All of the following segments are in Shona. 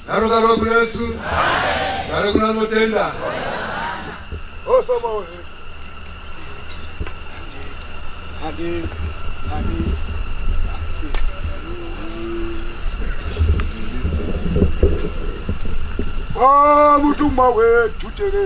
Garo garo kuna Yesu. Garo kuna notenda. Oh sama wewe. Hadi hadi. Ah, mutumwa wetu tere.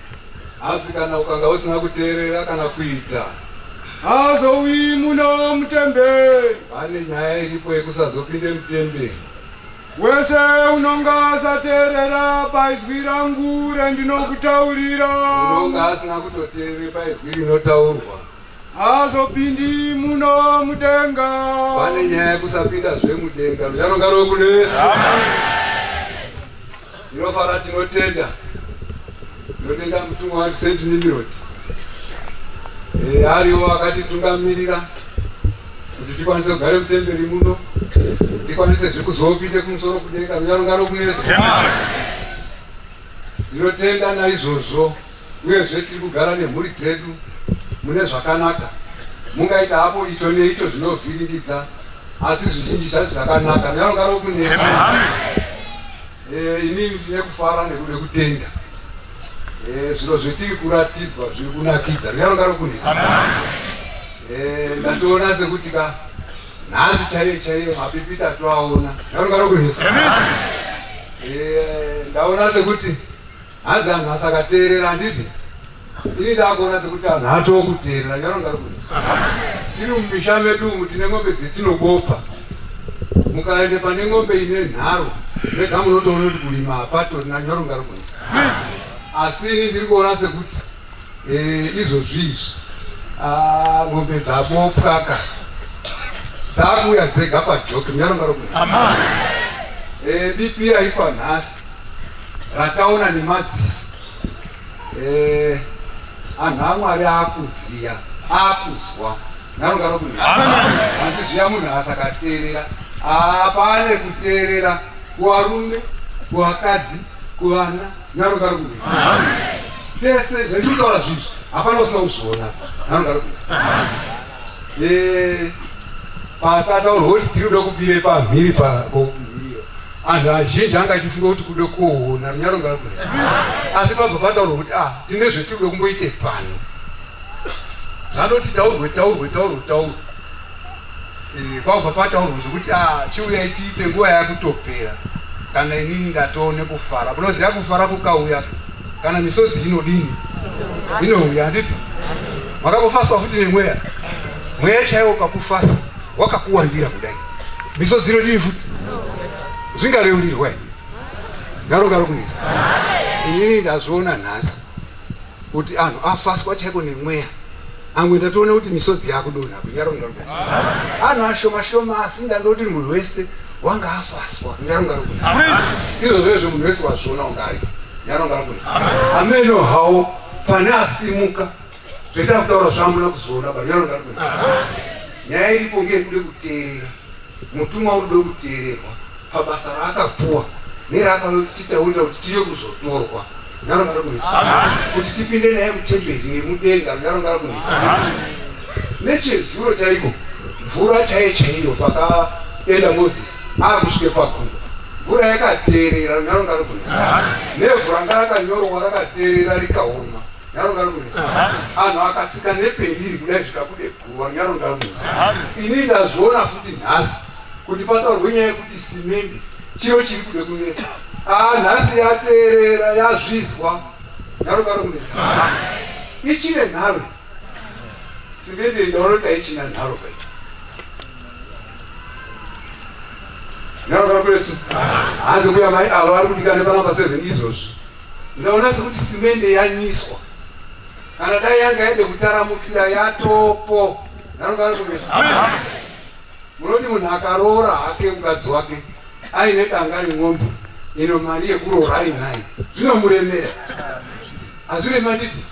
Hanzi kana ukanga usina kuteerera kana kuita haazouyi muno mutemberi. Pane nyaya iripo yekusazopinde mutemberi. Wese unonga asateerera paizwi rangu rendinokutaurira. Unonga asina kutoteerere paizwi rinotaurwa. Haazopindi muno mudenga. Pane nyaya yekusapinda zve mudenga. Ruchanonga rwekunesa. Tinofara tinotenda. Tinotenda mutumwa wa Saint Nimrod. Eh, ariwo akatitungamirira kuti tikwanise kugara mutemberi muno. Tikwanise zve kuzopinda kumusoro kudenga kunyarungano kunesu. Tinotenda naizvozvo. uyezve tiri kugara nemhuri dzedu mune zvakanaka. Mungaita hapo icho neicho zvinovhiringidza, asi zvizhinji zvacho zvakanaka. Ngarogaro kune eh, ini ndine kufara nekuda kutenda eh, zviro zvetiri kuratidzwa zviri kunakidza. Ngarogaro kune eh, ndatoona sekuti ka nhasi chaiyo chaiyo mapipita atoaona. Ngarogaro kune ndaona sekuti Hanzi anhu asaka teerera handiti ini ndakuona sekuti anhu atoo kuteerera nyaronga rikuti tiri mumisha medu umu tine ng'ombe dzetinobopa mukaende pane ng'ombe ine nharo mega munotoona kuti kulima hapatorina nyaronga rikuti asi ini ndiri kuona sekuti Eh, izvozvi izvi ah, mombe dzabopwaka dzakuuya dzega pajoki munyaronga rokuti eh, bipi raitwa nhasi rataona nemadziso eh, anhu amwari akuziya akuzwa nyaronga rokuti hanti zviya munhu asakateerera apane ah, kuteerera kuvarume kuvakadzi kuvana Nharo ngarume. Tese zvandikutaura zvizvi hapana usina kuzviona. Nharo ngarume. Eh pakataurwa kuti tiri kuda kubire pamhiri pako anhu azhinji anga achifunga kuti kuda kuona runyaro ngarume. Asi pabva pataurwa kuti ah tine zvetiri kuda kumboite pano. Zvanoti taurwe taurwe taurwe taurwe. Eh, kwakubva pataurwa zvekuti ah, chiuya itiite nguva yakutopera kana inini ndatoo nekufara munoziva kufara kukauya kana misodzi inodini inouya handiti makakufaswa futi nemweya mweya chaiwo ukakufasa wakakuwandira kudai misodzi inodini futi zvingareurirwa ngaro ngaro kunisa inini ndazviona nhasi Kuti anhu afaswa chaiko nemweya. Amwe ndatoona kuti misodzi yakudonha kunyaronga ruka. Anhu ashoma shoma asi ndandoti munhu wese wanga afaswa nyaronga ruka. Izvo zvezvo munhu wese wazviona wanga ari nyaronga ruka. Ameno hawo pane asimuka zveta kutaura zvamuna kuzviona ba nyaronga ruka. Nyaya iripo ngekude kuteerera. Mutumwa uri kuda kuteererwa pabasa raakapuwa neraakauya kuti titaurira kuti tiri kuzotorwa Nyaro ngaro kuisa kuti tipinde naye mutemberi nemudenga nyaro ngaro kuisa nechezuro chaiko mvura chaiye chaiyo pakaenda mozisi akusvike pakunda mvura yakateerera runyaro ngaro kuisa nevhu ranga rakanyorwa rakateerera rikaoma nyaro ngaro kuisa anhu akatsika nepeni iri kudai zvikabudepo Wanyaro ndamu. Ini ndazviona futi nhasi kuti pataurwe nyaya yekuti simende chiro chiri kuda kunetsa. Ah nhasi yateerera yazvizwa. Nyaro karo kunetsa. Ichine nharo. Simende ndaona kuti haichina nharo kai. Nyaro karo kunetsa. Hanzi mbuya mai avo vari kudikana panga pa 7 izvozvi. Ndaona sekuti simende yanyiswa. Kana dai yanga yaende kutaramukira yatopo. Nanogara kumesa. Munoti munhu akaroora hake mukadzi wake aine danga remwombe ino mari yekuroora ainayo zvinomuremera hazvirema nditi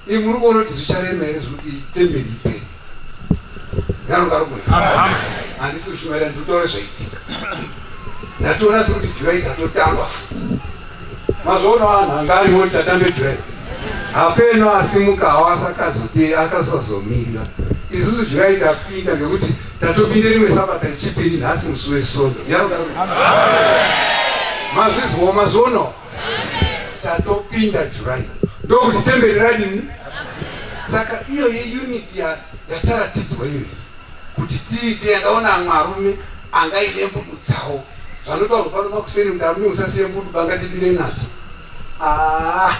imuri kuona kuti zvicharema here zvekuti temberi iperi ngarukarume handisi kushumaira nditaure zvaitika ndatoona sekuti jurai tatotamba futi mazvoona vanhu anga ariwo tatambe jurai hapeno asimukawo asakazote akasazomirira isusu jurai tapinda ngekuti tatopinde rimwe sabata rechipiri nhasi musi wesondo mazvizwo mazvono tatopinda July ndokuti temberi radini saka iyo yeunit yataratidzwa iyo kuti tiite yakaona amwe arume angaine mbudu dzawo zvanotaurwa pano pakuseri kuti arume usasiye mbudu bangatibire nadzo ah,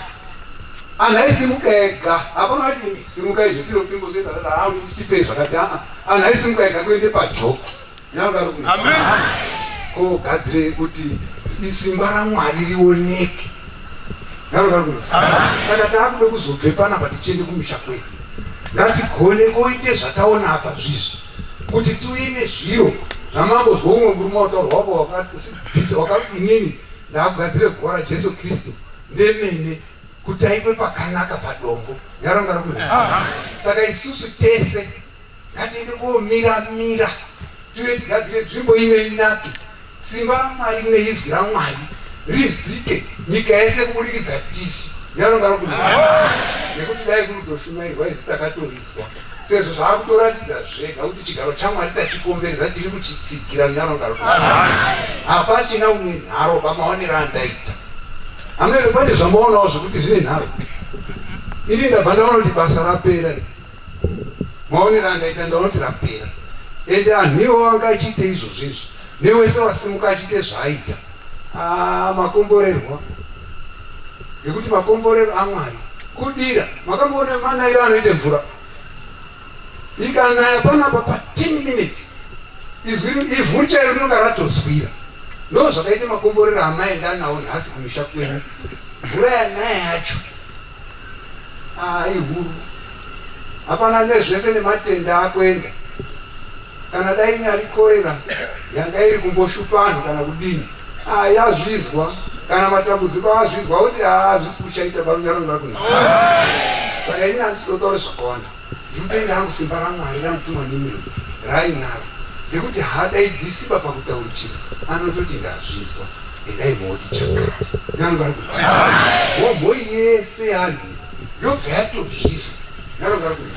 anhu aisimuka ega hapana vati simuka izvo tinopingozoita aa ah, tipe zvakati aa ah, anhu aisimuka ega kuende pajoko ko gadzirei kuti isimba ramwari rioneke saka taakuda kuzobve panapa tichiende kumisha kwedu ngatigone koite zvataona apa zvizvi kuti tiuye nezviro zvamambo zvoumwe murume wataurwa wako wakasibvisa wakati inini ndaakugadzire guva rajesu kristu ndemene kuti aitwe pakanaka padombo nyaronga rokunaisa saka isusu tese Ngatiende komira mira tive tigadzire nzvimbo ino inake, simba raMwari neizwi raMwari rizike nyika yese kubudikidza tisu nevanonga rokunzaa, nekuti dai kunotoshumairwa isu takatoritswa sezvo zvaakutoratidza zvega kuti chigaro chaMwari tachikomberedza tiri kuchitsigira nevanonga rokunzaa. Hapachina une nharo pamaonero andaita amene, pane zvamaonawo zvekuti zvine nharo ini ndabva ndaona kuti basa rapera. Maonero andaita ndaona rapera ende anhu iwo anga achiita izvozvo izvo newese wasimuka achiita zvaaita ah, makomborerwa ngekuti makomborero amwari kudira makamboona manairo anoita mvura ikanaya panapa pa 10 minutes izwi ivhu chairo rinonga ratozwira ndo zvakaita makomborero amaenda anawo nhasi kumisha kwenyu mvura yanaya yacho Haa ihuru hapana nezvese nematenda akwenda kana dai inyari korera yanga iri kumboshupa anhu kana kudini haa yazvizwa kana matambudziko azvizwa oti haa zvisi kuchaita barunyarongakuna saka ini handisi kutotaure zvakawanda Ndinotaira hangu simba raMwari ranotumwa nemirindi raainaro rekuti haadaidzi simba pakutauri chinhu anototi ndazvizwa endai mooti chakati nalonga ari kuti hombo yese yanhu yobva yatozvizwa nalonga ari kuti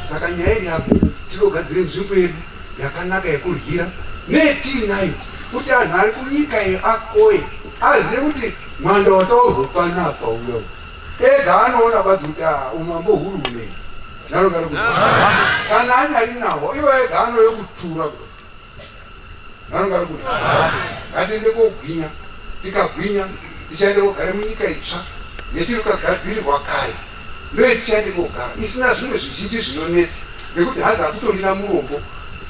saka nyaya iri apo tinogadzire nzvimbo yedu yakanaka yekuryira netiinayo kuti anhu ari kunyika yeakoye azive kuti mwanda wataurwa panapa uyo Ega anoona badzi kuti ah, umambo huru hunei nanogara kuti kana anyari naho ivo ega anoyo kutura kuti nanogara kuti ngatiende kogwinya tikagwinya tichaende kogara munyika itsva yetiri kagadzirirwa kare ndoye tichaende kogara isina zvimwe zvizhinji zvinonetsa nekuti hanzi akutondina murombo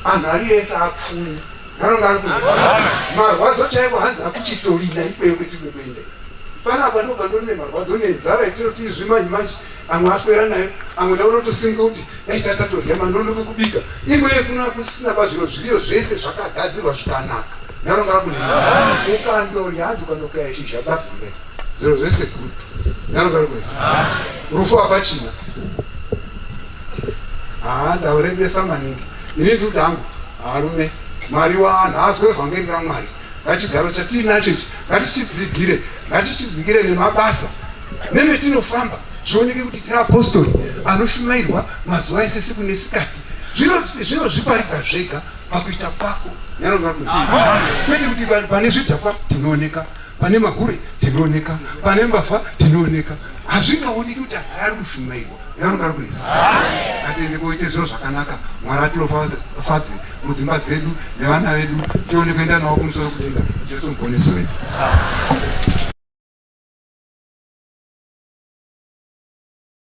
anhu ari ese apfumi marwadzo chaivo hanzi akuchitorina ikweyo kwetiri kuenda panapa ndoba ndone marwadzo nenzara itinoti izvi manje manje amwe aswera nayo amwe taunotosimka kuti dai tatatorya manono kekubika imweye kuna kusina pazviro zviriyo zvese zvakagadzirwa zvikanaka ndarongara kuti ukandorya hanzi ukandokaya shizha batsime zviro zvese gudu ndarongara kuti rufu hapachina haa ndaurembesa maningi ini ndikuti hangu Varume, Mwari wavanhu haazwe vhangeri raMwari. Ngachigaro chatiinacho ichi ngatichitsigire, ngatichitsigire nemabasa nemetinofamba zvioneke kuti tiri apostori anoshumairwa mazuva ese siku nesikati. Zvinozviparidza zvega pakuita kwako kwete kuti pane zvidhakwa tinooneka pane magure tinooneka pane mbavha tinooneka hazvingaoneki kuti ari kushumairwa Yamuka please. Ngatiende koite zviro zvakanaka. Mwari atilofadze mudzimba dzedu nevana vedu tione kuenda nawo kumusoro kudenga. Jesu muponesi wedu.